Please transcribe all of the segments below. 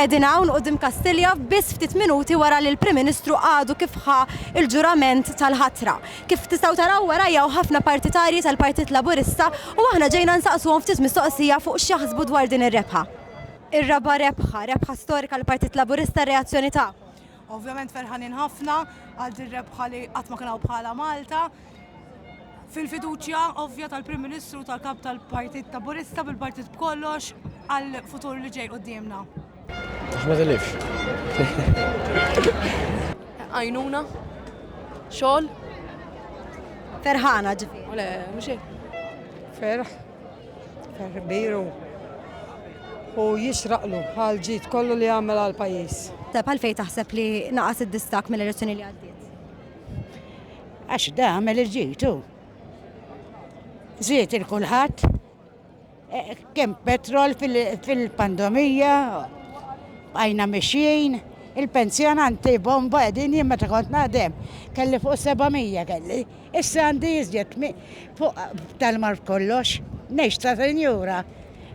Qegħdin hawn quddiem Kastilja biss ftit minuti wara li l-Prim Ministru għadu kif ħa l-ġurament tal-ħatra. Kif tistgħu taraw warajja hawn ħafna partitarji tal-Partit Laburista u aħna ġejna nsaqsuhom ftit mistoqsija fuq x'jaħsbu dwar din ir-rebħa. Ir-raba' rebħa, rebħa storika għall-Partit Laburista, r-reazzjoni tagħkom? Ovvjament ferħanin ħafna għal din rebħa li qatt ma kien hawn bħalha Malta. fil-fiduċja ovvja tal-Prim Ministru tal-Kap tal-Partit Taburista bil-Partit b'kollox għal futur li ġej qudiemna. Ahmed Elif. Għajnuna, xogħol. Ferħana ġifi. Le, mhux Ferħ, ferħ biru. U jixraqlu għal ġid kollu li għamel għal pajjiż. Tep għalfej taħseb li naqas id-distak mill-elezzjoni li għaddiet? Għax da għamel il-ġitu. Ziet il-kulħadd e, kemm petrol fil-pandemija, għajna mixjin, il-pensjonanti bomba edin jien meta kont naħdem, kelli fuq 700 kelli. Issa għandi jizjet fuq tal-mar kollox, neċ ta' senjura.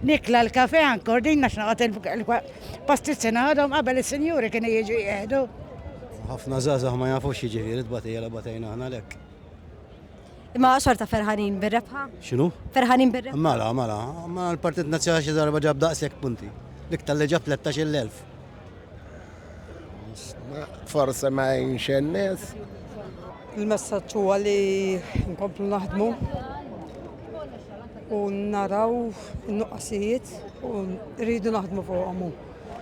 Nikla l-kafè ankor din għax noqgħod il-pastizzi naħodhom qabel is-sinjuri kienu jiġu jieħdu. Ħafna żgħażagħ ma jafux jiġifieri tbatija li batejna aħna lek. Imma xorta ferħanin bir-rebħa? X'inhu? Ferħanin bir-rebħa. Mela, mela, ma l-Partit Nazzjonali xi darba ġab daqshekk punti. Dik tal-li ġab 13,000. Forse ma jgħinx in-nies. Il-messaġġ huwa li nkomplu naħdmu u naraw in-nuqqasijiet u rridu naħdmu fuqhom.